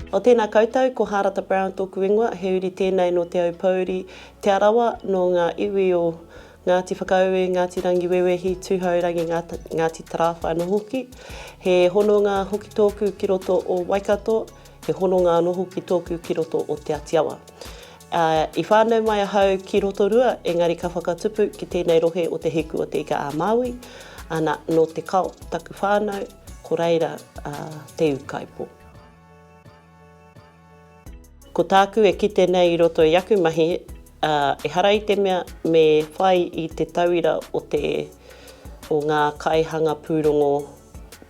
O tēnā koutou, ko Hārata Brown tōku ingoa, he uri tēnei nō Te Aupōuri, Te Arawa, nō ngā iwi o Ngāti Whakaue, Ngāti Rangiwewehi, Tūhourangi, Ngāti Tarāwhai anō hoki. He hononga hoki tōku ki roto o Waikato, he hononga anō hoki tōku ki roto o Te Atiawa. Ā, i whānau mai ahau ki Rotorua, engari ka whakatupu ki tēnei rohe o Te Hiku o Te Ika-a-Māui, ana, nō Te Kao taku whānau, ko reira a Te Ūkaipō. Ko tāku e kite nei i roto i aku mahi, ā, ehara i te mea me whai i te tauira o te, o ngā kaihanga pūrongo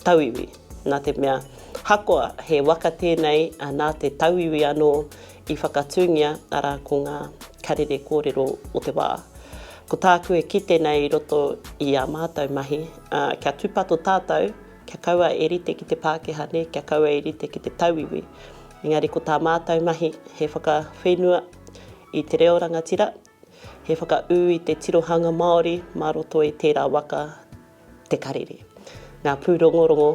tauiwi, nā te mea, hakoa he waka tēnei nā te tauiwi anō i whakatūngia, arā, ko ngā karere kōrero o te wā. Ko tāku e kite nei i roto i ā mātou mahi, kia tūpato tātou, kia kaua e rite ki te Pākehā nē, kia kaua e rite ki te tauiwi. Engari ko tā mātou mahi, he whakawhenua i te reo rangatira, he whakaū i te tirohanga Māori mā roto i tērā waka Te Karere, ngā pūrongorongo,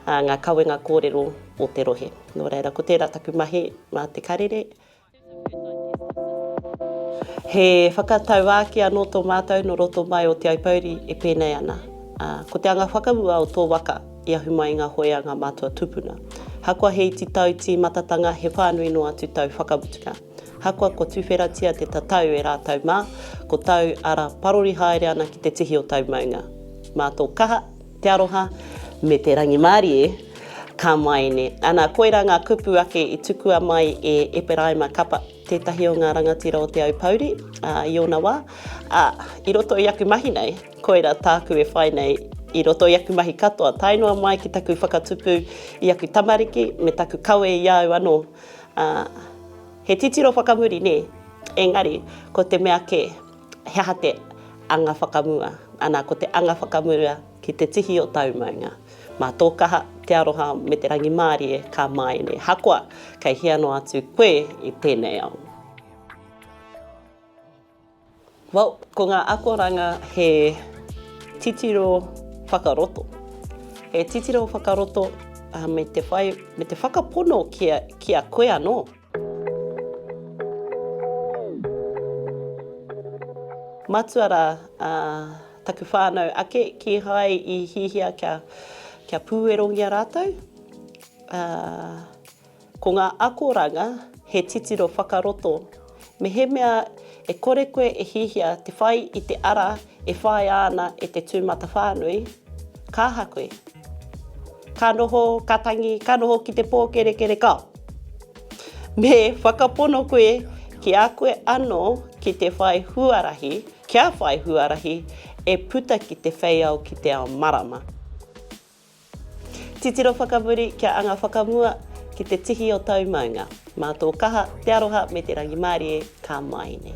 ā, ngā kawenga kōrero o te rohe. Nō reira, ko tērā taku mahi mā Te Karere. He whakatauākī anō tō mātou nō roto mai o Te Aupōuri e pēnei ana, ā, ko te anga whakamua o tō waka i ahu mai i ngā hoe a ngā mātua tūpuna. Ahakoa he iti tau tīmatatanga, he whānui noa atu tau whakamutunga. Ahakoa kua tuwheratia te tatau e rātou mā, ko tāu ara parori haere ana ki te tihi o tāu maunga. Mā tō kaha, te aroha, me te rangimārie, ka māene. Ana, koirā ngā kupu ake i tukua mai e Eperaima Kapa, tētahi o ngā rangatira o Te Aupōuri, ā, i ōna wā, ā, i roto i aku mahi nei, koirā tāku e whai nei i roto i aku mahi katoa, tae noa mai ki taku whakatupu i aku tamariki me taku kawe i a au anō, Ā, he titiro whakamuri, nē? Engari, ko te mea kē, he aha te anga whakamua? Ana, ko te anga whakamua ki te tihi o tāu maunga. Mā tō kaha, te aroha me te rangimārie ka māene, hakoa kei hea noa atu koe i tēnei ao. Well, ko ngā akoranga he titiro whakaroto. He titiro whakaroto me te whai, me te whakapono ki a, ki a koe anō. Matua rā taku whānau ake, kīhai i hihia kia, kia pūerongia rātou. Ko ngā akoranga he titiro whakaroto. Mehemea e kore koe e hiahia te whai i te ara e whāia ana e te tūmatawhānui, ka aha koe? Ka noho, ka tangi, ka noho ki te pōkerekere ka. Me whakapono koe ki a koe anō ki te whai huarahi, kia whai huarahi e puta ki te wheiao ki te ao marama. Titiro whakamuri kia anga whakamua ki te tihi o tau maunga. Mā tō kaha, te aroha me te rangimārie ka mai nei.